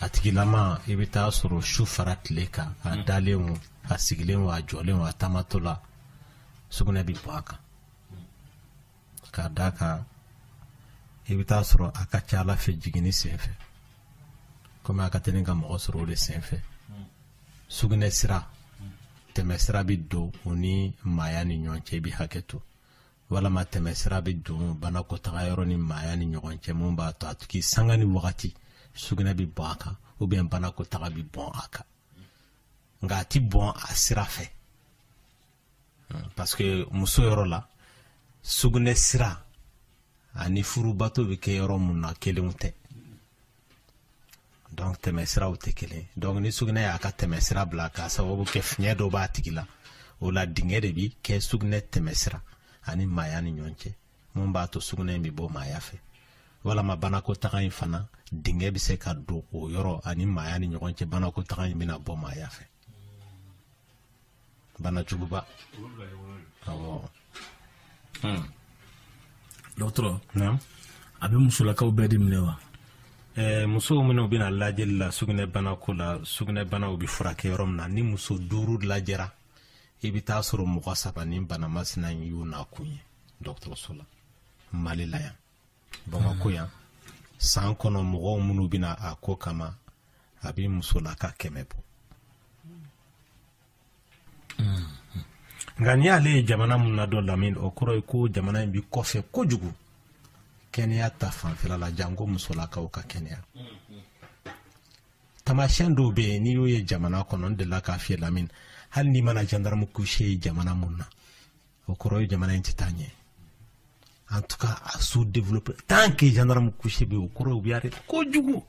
a tigilama i bɛ taa sɔrɔ su fara tile kan a mm. dalen o a sigilen o a jɔlen o a taamatɔ la sugunɛ bɛ bɔ a kan k'a d'a kan i bɛ taa sɔrɔ a ka ca a la fɛn jiginni senfɛ komi a ka teli ka mɔgɔ sɔrɔ o de senfɛ sugunɛ sira tɛmɛsira bɛ don o ni maaya ni ɲɔgɔn cɛ i bɛ hakɛ to walama tɛmɛ sira bɛ don banakɔtaga yɔrɔ ni maaya ni ɲɔgɔn cɛ mun b'a to a tigi sanga ni wagati sugunɛ bɛ bɔn a kan ou bien banakɔtaga bɛ bɔn a kan nka a ti bɔn a sira fɛ hmm, parce que muso yɔrɔ la sugunɛ sira ani furubato bɛ kɛ yɔrɔ mun na kelenw tɛ donc tɛmɛ siraw tɛ kelen donc ni sugunɛ y'a ka tɛmɛ sira bila k'a sababu kɛ fiɲɛ dɔ b'a tigi la o la dingɛ de bi kɛ sugunɛ tɛmɛ sira ani maaya ni ɲɔgɔn cɛ mun b'a to sugunɛ in bɛ bɔ maaya fɛ walama banakɔtaga in fana dingɛ bɛ se ka don o yɔrɔ ani maaya ni ɲɔgɔn cɛ banakɔtaga in bɛna bɔ maaya fɛ bana juguba awɔ dɔgɔtɔrɔ naamu a bɛ musolakaw bɛɛ de minɛ wa ɛɛ musow minnu bɛ na lajɛli la sugunɛbana ko la sugunɛbanaw bɛ furakɛ yɔrɔ min na ni muso duuru lajɛra i bɛ taa sɔrɔ mɔgɔ saba ni bana masina in y'u nakun ye dɔgɔtɔrɔso la mali la yan bamakɔ yan san kɔnɔ mɔgɔw minnu bɛ na a ko kama a bɛ musolaka kɛmɛ bɔ nka n'i y'ale ye jamana mun na dɔrɔn lamini o kɔrɔ ye ko jamana in bɛ kɔfɛ kojugu kɛnɛya ta fanfɛla la janko musolakaw ka kɛnɛya tamasiyɛn dɔw bɛ yen n'i y'o ye jamana kɔnɔ n delila k'a f'i ye lamini hali n'i mana gendarme couché ye jamana mun na o kɔrɔ ye jamana in tɛ taa ɲɛ en tout cas a sous développé tant que gendarme couché bɛ yen o kɔrɔ ye u bɛ arrêté kojugu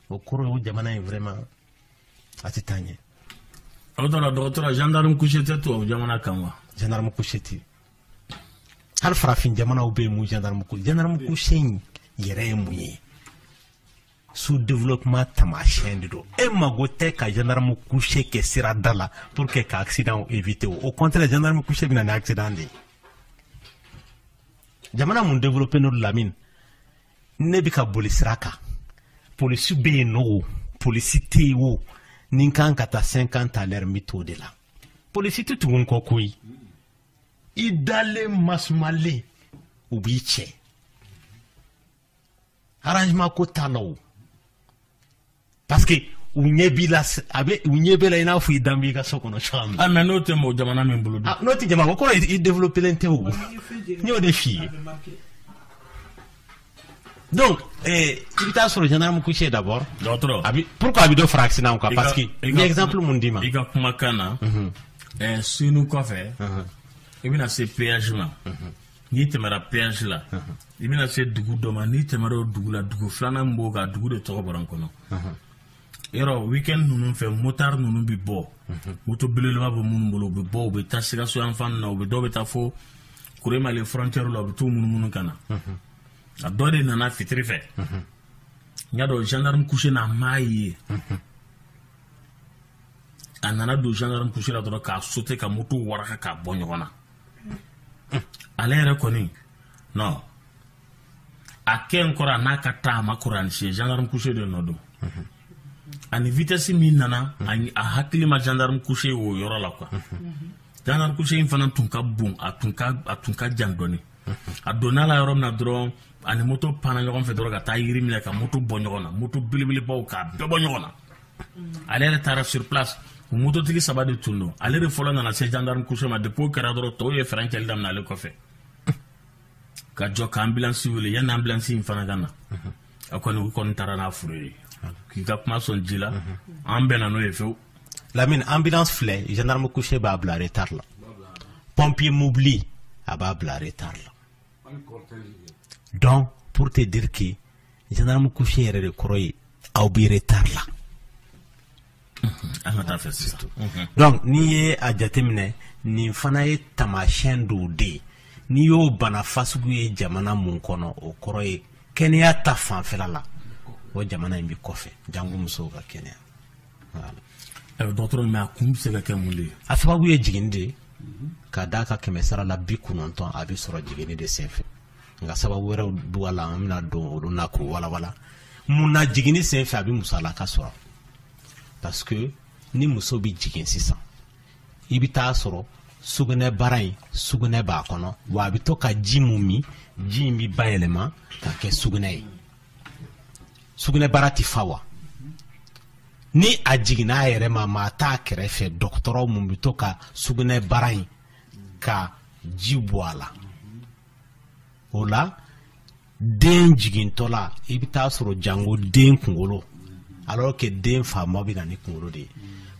o kɔrɔ ye o jamana in vraiment a tɛ taa ɲɛ. aw taara dɔgɔtɔrɔ gendarme couché tɛ tubabu jamana kan wa. gendarme couché tɛ hali farafin jamanaw bɛ yen mun gendarme couché gendarme couché in yɛrɛ ye mun ye. sous développement tamasiyɛn de don e mago tɛ ka gendarme couché kɛ sira da la pour que ka accident éviter o au contraire gendarme couché bɛ na ni accident de ye jamana mun développélen don lamine ne bɛ ka boli sira kan polisi bɛ yen o polisi tɛ yen o ni n kan ka taa cinquante à l'heure n bɛ t'o de la polisi tɛ tugu n kɔ koyi i dalen masumalen u b'i cɛ arrangement ko t'a la o parce que u ɲɛ b'i la a bɛ u ɲɛ b'i la i n'a fɔ i dan b'i ka so kɔnɔ cogoya min na. ah, mais n'o tɛ mɔgɔ jamana min bolo dun. Ah, n'o tɛ jamana k'o kɔrɔ i développelen tɛ o n y'o de f'i ye. donc eh, i bɛ taa sɔrɔ gendarme couché d'abord. dɔgɔtɔrɔ a bɛ pourquoi a bɛ dɔ fara accident kan parce que n ye exemple mun d'i ma. i ka kumakan na. Mhm. Eh, Senu kɔfɛ. Mhm. i bɛna se péage ma. Mhm. n'i tɛmɛra péage la i bɛna se dugu dɔ ma n'i tɛmɛra o dugu la dugu filanan min b'o kan dugu de tɔgɔ bɔra n kɔnɔ yɔrɔ weekend ninnu fɛ motard ninnu bɛ bɔ moto belebeleba bɛ minnu bolo u bɛ bɔ u bɛ taa sikaso yan fan na u bɛ dɔw bɛ taa fo kuremale frontière la u bɛ t'u munumunu ka na a dɔ de nana fitiri fɛ n y'a dɔn gendarme couché n'a m'a ye a nana don gendarme couché la dɔrɔn k'a sauter ka moto waraka k'a bɔ ɲɔgɔn na ale yɛrɛ kɔni non a kɛ n kɔrɔ a n'a ka taa a ma kuran siɲɛ gendarme couché de nɔ don a ni vitesse min nana ani a hakili ma gendarme couché o yɔrɔ la quoi gendarme couché in fana tun ka bon a tun ka a tun ka jan dɔɔni a donna la yɔrɔ min na dɔrɔn a ni moto panna ɲɔgɔn fɛ dɔrɔn ka taa yiri minɛ ka moto bɔ ɲɔgɔn na moto belebelebaw k'a bɛɛ bɔ ɲɔgɔn na ale yɛrɛ taara sur place mototigi saba de tun don ale de fɔlɔ nana se gendarme couché ma depuis o kɛra dɔrɔn tɔw ye fɛrɛn cɛli daminɛ ale kɔfɛ ka jɔ ka ambulance wele yanni ambulance in fana ka na a kɔni u kɔni taara n'a fure ye k'i ka kuma sɔn ji la an bɛnna n'o ye fewu Lamine ambulance filɛ gendarme couché b'a bila retard la pompier mobili a b'a bila retard la donc pour te dire que gendarme couché yɛrɛ de kɔrɔ ye aw bɛ retard la mhm. donc n'i ye a jateminɛ nin fana ye taamasiyɛn dɔw de ye n'i y'o bana fasugu ye jamana mun kɔnɔ o kɔrɔ ye kɛnɛya ta fanfɛla la o jamana in bɛ kɔfɛ jango musow ka kɛnɛya dɔgɔtɔrɔ mais a kun bɛ se ka kɛ mun de ye a sababu ye jiginni de ye ka d'a kan kɛmɛ sara la bi kɔnɔntɔn a bɛ sɔrɔ jiginni de senfɛ nka sababu wɛrɛw b'u la an bɛna don olu na k'o walawala mun na jiginni sen fɛ a bɛ muso lakasɔrɔ parce que ni muso bɛ jigin sisan i bɛ taa sɔrɔ sugunɛ bara in sugunɛ b'a kɔnɔ wa a bɛ to ka ji mun min ji in bɛ bayɛlɛma ka kɛ sugunɛ ye sugunɛ bara tɛ fa wa ni a jiginna a yɛrɛ ma maa t'a kɛrɛfɛ dɔgɔtɔrɔ mun bɛ to ka sugunɛ bara in ka ji bɔ a la o la den jigintɔla i bɛ taa sɔrɔ jango den kunkolo alors que den fanba bɛ na ni kunkolo de ye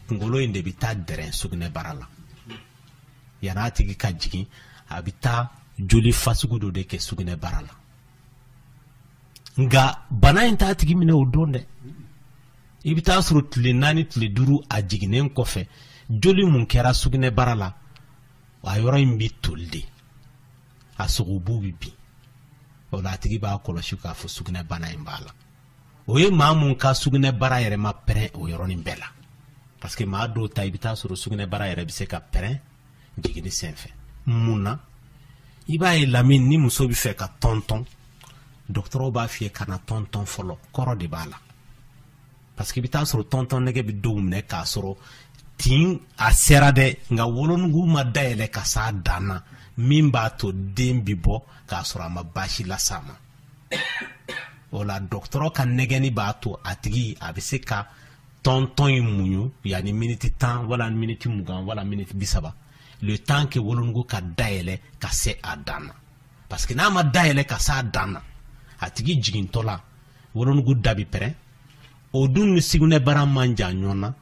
kunkolo in de bɛ taa dɛrɛn sugunɛbara la yan'a tigi ka jigin a bɛ taa joli fasugu dɔ de kɛ sugunɛbara la nka bana in t'a tigi minɛ o don dɛ i bɛ taa sɔrɔ tile naani tile duuru a jiginnen kɔfɛ joli mun kɛra sugunɛbara la a yɔrɔ in bɛ toli de a sogobu bɛ bin o la a tigi b'a kɔlɔsi k'a fɔ sugunɛbana in b'a la o ye maa mun ka sugunɛbara yɛrɛ ma pɛrɛn o yɔrɔnin bɛɛ la parce que maa dɔw ta i bɛ taa sɔrɔ sugunɛbara yɛrɛ bɛ se ka pɛrɛn jiginni senfɛ mun na i b'a ye lamini ni muso bɛ fɛ ka tɔntɔn dɔgɔtɔrɔw b'a f'i ye kana tɔntɔn fɔlɔ kɔrɔ de b'a la parce que i bɛ taa sɔrɔ tɔntɔn nɛgɛ bɛ dɔw minɛ k'a sɔrɔ tin a sera dɛ nka wolonugu ma dayɛlɛ ka s'a dan na min b'a to den bɛ bɔ k'a sɔrɔ a ma baasi las'a ma o la dɔgɔtɔrɔ ka nɛgɛnni b'a to a tigi a bɛ se ka tɔntɔn in muɲu yanni miniti tan wala miniti mugan wala miniti bi saba le temps que wolonugu ka dayɛlɛ ka se a dan na parce que n'a ma dayɛlɛ ka se a dan na a tigi jigintɔ la wolonugu da bi pɛrɛn o dun ni sugunɛbara man jan ɲɔgɔn na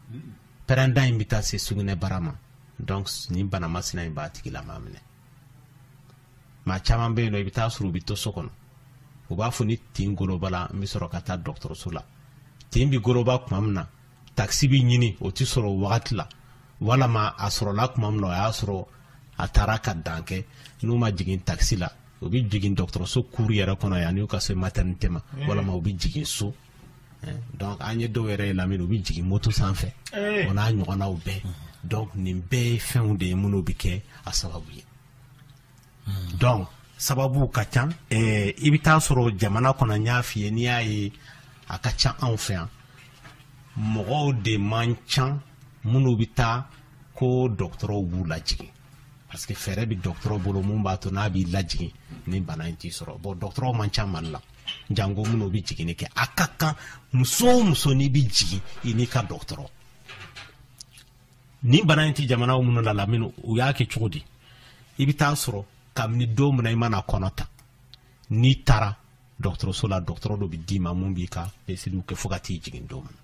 pɛrɛnda in bɛ taa se sugunɛbara ma donc nin bana masina in b'a tigilamaa minɛ maa caman bɛ yen nɔ i bɛ taa sɔrɔ u bɛ to so kɔnɔ u b'a fɔ ni tin golobala n bɛ sɔrɔ ka taa dɔgɔtɔrɔso la tin bɛ goloba tuma min na takisi bɛ ɲini o tɛ sɔrɔ o wagati la walama a sɔrɔla tuma min na o y'a sɔrɔ a taara ka dan kɛ n'u ma jigin takisi la u bɛ jigin dɔgɔtɔrɔso cour yɛrɛ kɔnɔ yann'u ka se maternité ma walama u bɛ jigin so eh, donc an ye dɔw yɛrɛ ye lamini u bɛ jigin moto sanfɛ eh. o n'a ɲɔgɔnnaw bɛɛ donc nin bɛɛ ye fɛnw de ye minnu bɛ kɛ a sababu ye hmm. donc sababu ka ca eh, i bɛ taa sɔrɔ jamana kɔnɔ n y'a f'i ye n'i y'a ye a ka ca anw fɛ yan mɔgɔw de man ca minnu bɛ taa ko dɔgɔtɔrɔw b'u lajigin parce que fɛɛrɛ bɛ dɔgɔtɔrɔ bolo mun b'a to n'a b'i lajigin nin bana in t'i sɔrɔ bon dɔgɔtɔrɔw man ca mali la janko minnu bɛ jiginni kɛ a ka kan muso o muso n'i bɛ jigin i n'i ka dɔgɔtɔrɔ nin bana in tɛ jamanaw minnu la lamini u y'a kɛ cogo di i bɛ taa sɔrɔ kabini don min na i mana kɔnɔ ta n'i taara dɔgɔtɔrɔso la dɔgɔtɔrɔ dɔ bɛ d'i ma mun b'i ka peseliw kɛ fo ka t'i jigin don min na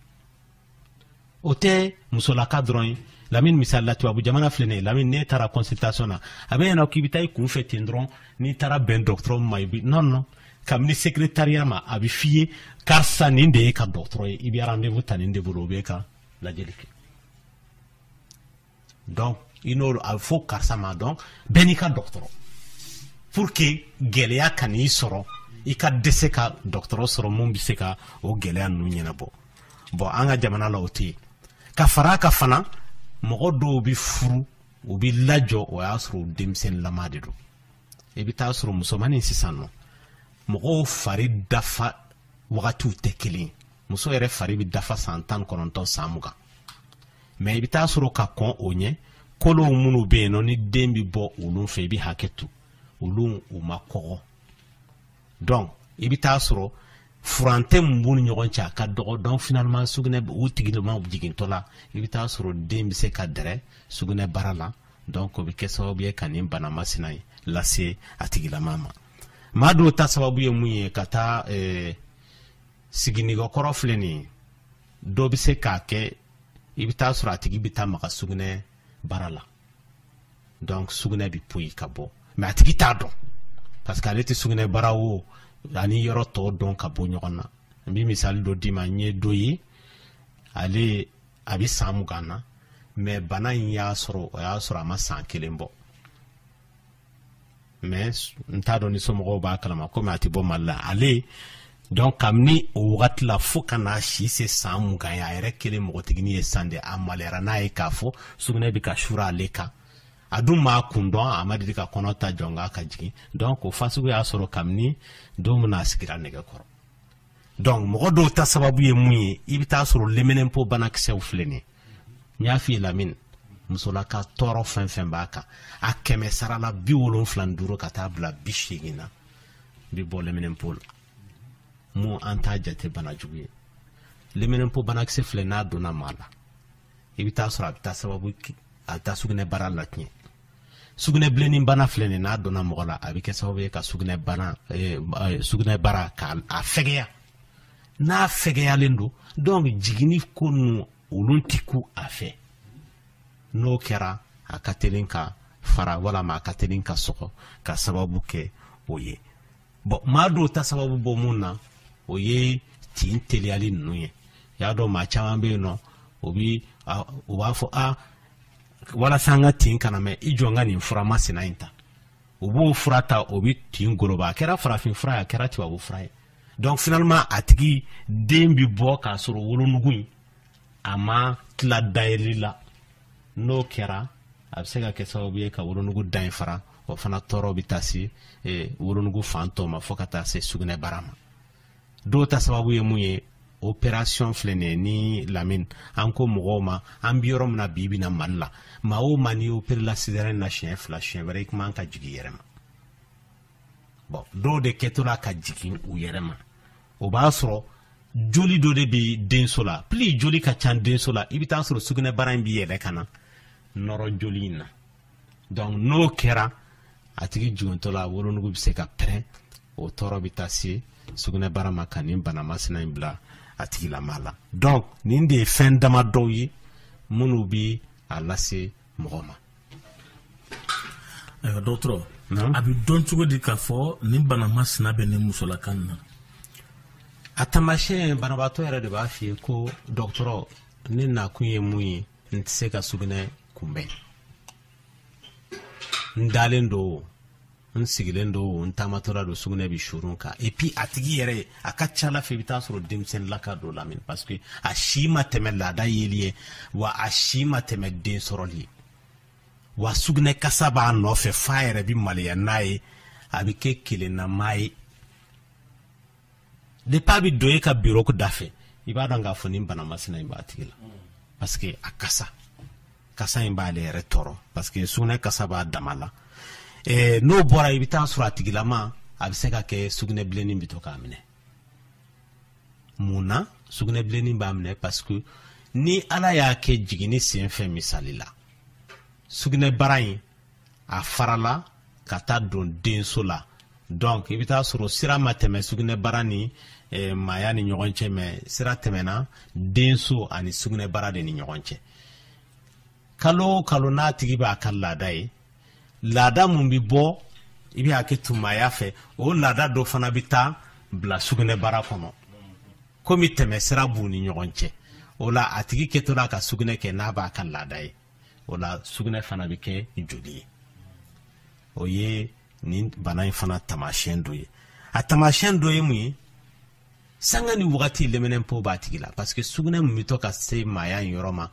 o tɛ musolaka dɔrɔn ye lamini misali la tubabu jamana filɛ nin ye lamini n'e taara consultation na a b'e ɲɛ na k'i bɛ taa i kunfɛ ten dɔrɔn n'i taara bɛn dɔgɔtɔrɔ ma i bi non non kabini secrétariat ma a bɛ f'i ye karisa nin de y'e ka dɔgɔtɔrɔ ye i bɛ rendez-vous ta nin de bolo o b'e ka lajɛli kɛ donc i n'olu a fɔ karisa ma donc bɛɛ n'i ka dɔgɔtɔrɔ pour que gɛlɛya kan'i sɔrɔ i ka dɛsɛ ka dɔgɔtɔrɔ sɔrɔ mun bɛ se ka o gɛlɛya ninnu ɲɛnabɔ bon an ka jamana la o tɛ yen ka fara a kan fana mɔgɔ dɔw bɛ furu u bɛ lajɔ o y'a sɔrɔ u denmisɛnninlama de don i bɛ taa sɔrɔ musomanin sisan nɔ mɔgɔw fari dafa wagatiw tɛ kelen ye muso yɛrɛ fari bɛ dafa san tan kɔnɔntɔn san mugan mais i bɛ taa sɔrɔ ka kɔn o ɲɛ kolow minnu bɛ yen nɔ ni den bɛ bɔ olu fɛ i bɛ hakɛ to olu u ma kɔgɔ donc i bɛ taa sɔrɔ furancɛ min b'u ni ɲɔgɔn cɛ a ka dɔgɔ donc finalement sugunɛ u tigilama jigintɔ la i bɛ taa sɔrɔ den bɛ se ka dɛrɛ sugunɛbara la donc o bɛ kɛ sababu ye ka nin bana masina in lase a tigilama ma maa dɔw ta sababu ye mun ye ka taa ɛɛ eh, siginɛgɛkɔrɔ filɛ nin ye dɔ bɛ se k'a kɛ i bɛ taa sɔrɔ a tigi bɛ taa maga sugunɛbara la donc sugunɛ bɛ poyi ka bɔ mais a tigi t'a dɔn parce que ale tɛ sugunɛbara wo ani yɔrɔ tɔw dɔn ka bɔ ɲɔgɔn na n bɛ misali dɔ d'i ma n ye dɔ ye ale a bɛ san mugan na mais bana in y'a sɔrɔ o y'a sɔrɔ a ma san kelen bɔ mais n t'a dɔn ni somɔgɔw b'a kalama komi a tɛ bɔ mali la ale donc kabini o wagati la fo ka n'a si se san mugan ye a yɛrɛ kɛlen mɔgɔtigini ye san de a maliyara n'a ye k'a fɔ sugunɛ bɛ ka suuru ale kan a dun m'a kun dɔn a ma deli ka kɔnɔ ta janko ka jigin donc o fasugu y'a sɔrɔ kabini don min na a sigira nɛgɛ kɔrɔ donc mɔgɔ dɔw ta sababu ye mun ye i bɛ taa sɔrɔ leminɛnpo banakisɛw filɛ nin ye n y'a f'i ye lamini musolaka tɔɔrɔ fɛn fɛn b'a kan a kɛmɛ sarala bi wolonfila ni duuru ka taa bila bi seegin na bi bɔ leminɛnpo la mun an t'a jate bana jugu ye leminɛnpo banakisɛ filɛ n'a donna maa la i bɛ taa sɔrɔ a bɛ taa sababu a bɛ taa sugunɛbara latiɲɛ sugunɛbilennin bana filɛ nin n'a donna mɔgɔ la a bɛ kɛ sababu ye ka sugunɛ bana eh, eh, sugunɛbara k'a fɛgɛya n'a fɛgɛyalen don donc jiginni ko ninnu olu ti ku a fɛ n'o kɛra a ka teli ka fara walama a ka teli ka sɔgɔ ka sababu kɛ o ye bon maa dɔw ta sababu bɔ mun na o ye tin teliyali ninnu ye y'a dɔn maa caman bɛ yen nɔ o bi u b'a fɔ a walasa an ka tin kana mɛn i jɔ n ka nin fura masina in ta u b'o fura ta o bɛ tin goloba a kɛra farafin fura ye a kɛra tubabu fura ye donc finalement a tigi den bɛ bɔ k'a sɔrɔ wolonugu in a ma tila dayɛlɛli la n'o kɛra a bɛ se ka kɛ sababu ye ka wolonugu da in fara o fana tɔɔrɔ bɛ taa se wolonugu fan tɔ ma fo ka taa se sugunɛbara ma dɔw ta sababu ye mun ye opération filɛ nin ye ni lamini an ko mɔgɔw ma an bi yɔrɔ min na bi bi na mali la maa o maa n'i operela césarienne na siɲɛ fila siɲɛ wɛrɛ i kun man ka jigin i yɛrɛ ma bon dɔw de kɛtɔla ka jigin u yɛrɛ ma o b'a sɔrɔ joli dɔ de bi denso la plus joli ka ca denso la i bɛ taa sɔrɔ sugunɛbara in bɛ yɛlɛ ka na nɔrɔ joli in na donc n'o kɛra a tigi jigintɔ la wolonugu bɛ se ka pɛrɛn o tɔɔrɔ bɛ taa se sugunɛbara ma ka nin bana masina in bila a tigilama la donc nin de ye fɛn dama dɔw ye minnu bɛ a lase mɔgɔ ma. ayiwa dɔgɔtɔrɔ a bɛ dɔn cogo di k'a fɔ nin bana masina bɛ nin musolakan na. a taamasiyɛn banabaatɔ yɛrɛ de b'a f'i ye ko dɔgɔtɔrɔ ne nakun ye mun ye n tɛ se ka sugunɛ kunbɛn n dalen don n sigilen don n taamatɔla don sugunɛ bɛ suuru n kan et puis a tigi yɛrɛ a ka ca a la fɛ i bɛ taa sɔrɔ denmisɛnninlaka don lamini parce que a si ma tɛmɛ laada yeli ye wa a si ma tɛmɛ den sɔrɔli ye wa sugunɛ kasa b'a nɔfɛ f'a yɛrɛ bɛ maloya n'a ye a bɛ kɛ kelennama ye depuis a bɛ don e ka biro da fɛ i b'a dɔn k'a fɔ nin bana masina in b'a tigi la parce que a kasa kasa in b'ale yɛrɛ tɔɔrɔ parce que sugunɛ kasa b'a dama la eh, n'o bɔra i bɛ taa sɔrɔ a tigilama a bɛ se ka kɛ sugunɛ bilenni bɛ to k'a minɛ mun na sugunɛ bilenni b'a minɛ parce que ni ala y'a kɛ jiginni senfɛ misali la sugunɛbara in a farala ka taa don denso la donc i bɛ taa sɔrɔ sira ma tɛmɛ sugunɛbara ni eh, maaya ni ɲɔgɔn cɛ mais sira tɛmɛna denso ani sugunɛbara de ni ɲɔgɔn cɛ kalo o kalo n'a tigi b'a ka laada ye laada mun bɛ bɔ i bɛ hakɛ to maaya fɛ o laada dɔ fana bɛ taa bila sugunɛbara kɔnɔ komi tɛmɛsira b'u ni ɲɔgɔn cɛ o la a tigi kɛtɔla ka sugunɛ kɛ n'a b'a ka laada ye o la sugunɛ fana bɛ kɛ joli ye o ye nin bana in fana taamasiyɛn dɔ ye a taamasiyɛn dɔ ye mun ye sanga ni wagati leminɛnpo b'a tigi la parce que sugunɛ min bɛ to ka se maaya in yɔrɔ ma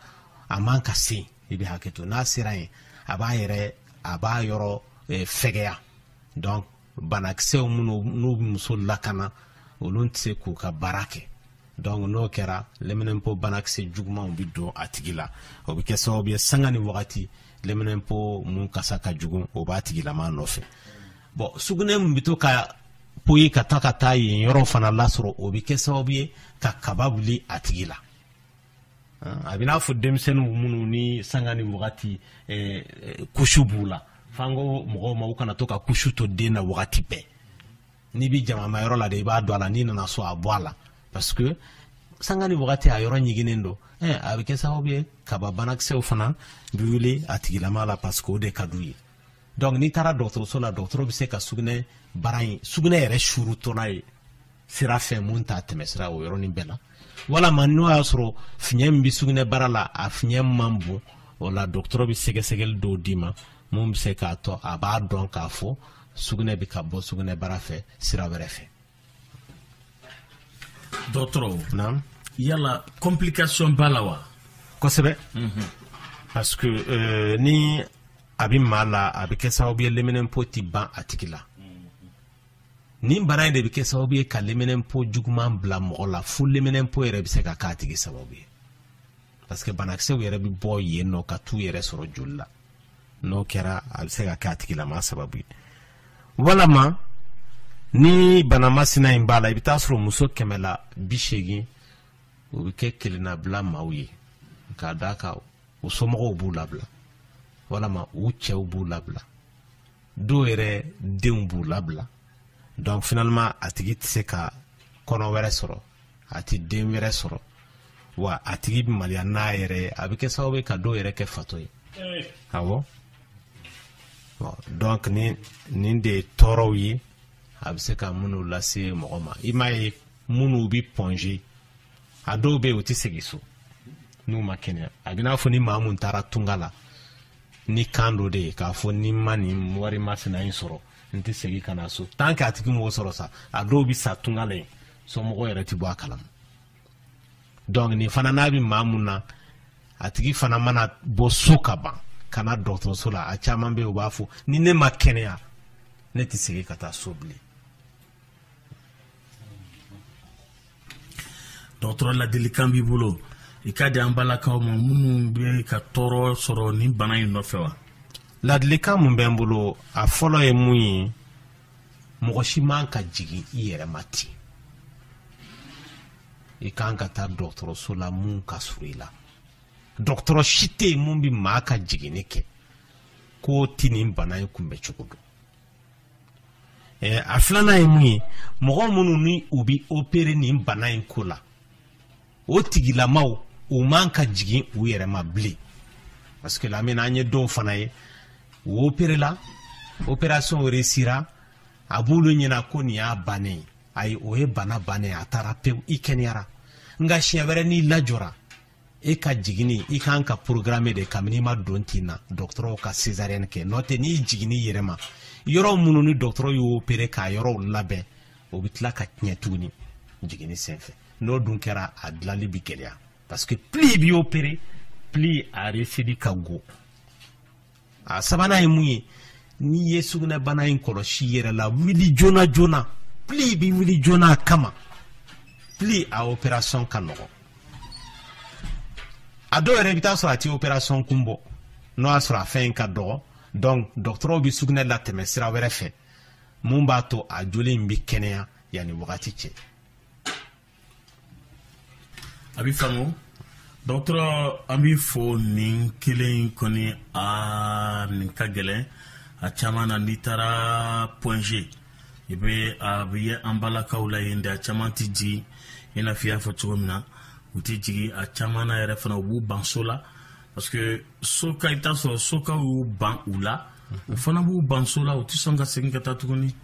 a man ka se i bɛ hakɛ to n'a sera yen a b'a yɛrɛ a b'a yɔrɔ eh, fɛgɛya donc banakisɛw minnu n'u bɛ muso lakana olu tɛ se k'u ka baara kɛ donc n'o kɛra leminɛnpo banakisɛ jugumanw bɛ don a tigi la o bɛ kɛ sababu ye sanga ni wagati leminɛnpo mun kasa ka jugu o b'a tigilama nɔfɛ bon sugunɛ min bɛ to ka poyi ka taa ka taa yen yɔrɔ fana lasɔrɔ o bɛ kɛ sababu ye ka kaba wuli a tigi la a bɛ n'a fɔ denmisɛnninw minnu ni sanga ni wagati eh, eh, kusu b'u la f'an ko mɔgɔw ma u kana to ka kusu to den na wagati bɛɛ n'i bɛ jamama yɔrɔ la de i b'a don a la n'i nana so a bɔ a la parce que sanga ni wagati a yɔrɔ ɲiginnen don eh, a bɛ kɛ sababu ye kaba banakisɛw fana bɛ wuli a tigilama la parce que o de ka d'u ye donc n'i taara dɔgɔtɔrɔso la dɔgɔtɔrɔ bɛ se ka sugunɛbara in sugunɛ yɛrɛ suurutɔla ye sira fɛ mun t'a tɛmɛsira o yɔrɔnin bɛɛ la walama n'o y'a sɔrɔ fiɲɛ min bɛ sugunɛbara la a fiɲɛ man bon o la dɔgɔtɔrɔ bɛ sɛgɛsɛgɛli dɔw d'i ma mun bɛ se k'a to a b'a dɔn k'a fɔ sugunɛ bɛ ka bɔ sugunɛbara fɛ sira wɛrɛ fɛ dɔgɔtɔrɔ naam yala complication b'a la wa kosɛbɛ mhm. parce que euh, ni a bɛ maa la a bɛ kɛ sababu ye leminɛnpo tɛ ban a tigi la nin bana in de bɛ kɛ sababu ye ka leminɛnpo juguman bila mɔgɔ la fo leminɛnpo yɛrɛ bɛ se ka k'a tigi sababu ye parce que banakisɛw yɛrɛ bɛ bɔ yen nɔ ka t'u yɛrɛ sɔrɔ joli la n'o kɛra a bɛ se ka kɛ a tigilama sababu ye walama ni bana masina in b'a la i bɛ t'a sɔrɔ muso kɛmɛ la bi seegin u bɛ kɛ kelennabila maaw ye k'a d'a kan u somɔgɔw b'u labila walama u cɛw b'u labila dɔw yɛrɛ denw b'u labila donc finalement a tigi tɛ se ka kɔnɔ wɛrɛ sɔrɔ a tɛ den wɛrɛ sɔrɔ wa a tigi bɛ maliya n'a yɛrɛ ye a bɛ kɛ sababu ye ka dɔw yɛrɛ kɛ fatɔ ye awɔ donc nin de ye tɔɔrɔw ye a bɛ se ka minnu lase mɔgɔ ma i m'a ye minnu bɛ Point G a dɔw bɛ yen u tɛ segin so n'u ma kɛnɛya a bɛ n'a fɔ ni maa mun taara tunga la ni kan dɔ de ye k'a fɔ ni n ma nin wari masina in sɔrɔ n tɛ segin ka na so tant que a tigi m'o sɔrɔ sa a dɔw bɛ sa tunga la yen somɔgɔw yɛrɛ tɛ bɔ a kalama donc nin fana n'a bɛ maa mun na a tigi fana mana bɔ so ka ban ka na dɔgɔtɔrɔso la a caman bɛ yen u b'a fɔ ni ne ma kɛnɛya ne tɛ segin ka taa so bilen dɔgɔtɔrɔ ladilikan b'i bolo i k'a di an balakaw ma minnu bɛ ka tɔɔrɔ sɔrɔ nin bana in nɔfɛ wa ladilikan mun bɛ n bolo a fɔlɔ ye mun ye mɔgɔ si man ka jigin i yɛrɛ ma ten i kan ka taa dɔgɔtɔrɔso la mun ka surun i la dɔgɔtɔrɔ si tɛ yen mun bɛ maa ka jiginni kɛ k'o tɛ nin bana in kunbɛ cogo dɔn a filanan ye mun ye mɔgɔ minnu ni u bɛ opere nin bana in ko la o tigilamaw u man ka jigin u yɛrɛ ma bilen parce que lamina an ye dɔw fana ye u operela operation réussira a b'olu ɲɛna ko nin y'a bannen ye ayi o ye bana bannen a taara pewu i kɛnɛyara nka siɲɛ wɛrɛ n'i lajɔra e ka jiginni in ka kan ka programme de kabini i ma don tin na dɔgɔtɔrɔw ka cesarienne kɛ n'o tɛ n'i jiginna i yɛrɛ ma yɔrɔ minnu ni dɔgɔtɔrɔ y'o opere k'a yɔrɔw labɛn o bɛ tila ka tiɲɛ tuguni jiginni senfɛ n'o dun kɛra a dilali bɛ gɛlɛya parce que plus i bɛ opere plus a réussili ka go a sabanan ye mun ye n'i ye sugunɛbana in kɔlɔsi i yɛrɛ la wuli joona joona plus i bɛ wuli joona a kama plus a operation ka nɔgɔ a dɔw yɛrɛ i bɛ t'a sɔrɔ a tɛ operation kun bɔ n'o y'a sɔrɔ a fɛn in ka dɔgɔ donc dɔgɔtɔrɔw bɛ sugunɛ latɛmɛ sira wɛrɛ fɛ mun b'a to a joli in bɛ kɛnɛya yanni wagati cɛ a bɛ faamu dɔgɔtɔrɔ an b'i fo nin kelen in kɔni a nin ka gɛlɛn a caman na n'i taara point g i bɛ a bɛ ye an balakaw la yen de a caman tɛ jigin i n'a fɔ i y'a fɔ cogo min na u tɛ jigin a caman na yɛrɛ fana u b'u ban so la parce que soka i bɛ t'a sɔrɔ sokaw y'u ban u la u fana b'u ban so la u tɛ sɔn ka segin ka taa tuguni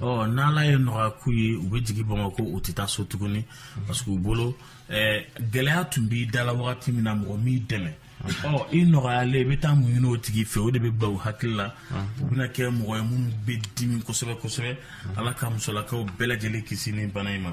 ɔ n'ala ye nɔgɔya k'u ye u bɛ jigin bamakɔ u tɛ taa so tuguni parce que u bolo eh, gɛlɛya tun b'i da la wagati min na mɔgɔ m'i dɛmɛ ɔ i nɔgɔyalen i bɛ taa mun ɲini o tigi fɛ o de bɛ bila u hakili la u bɛna kɛ mɔgɔ ye minnu bɛ dimi kosɛbɛ kosɛbɛ ala ka musolakaw bɛɛ lajɛlen kisi ni bana in ma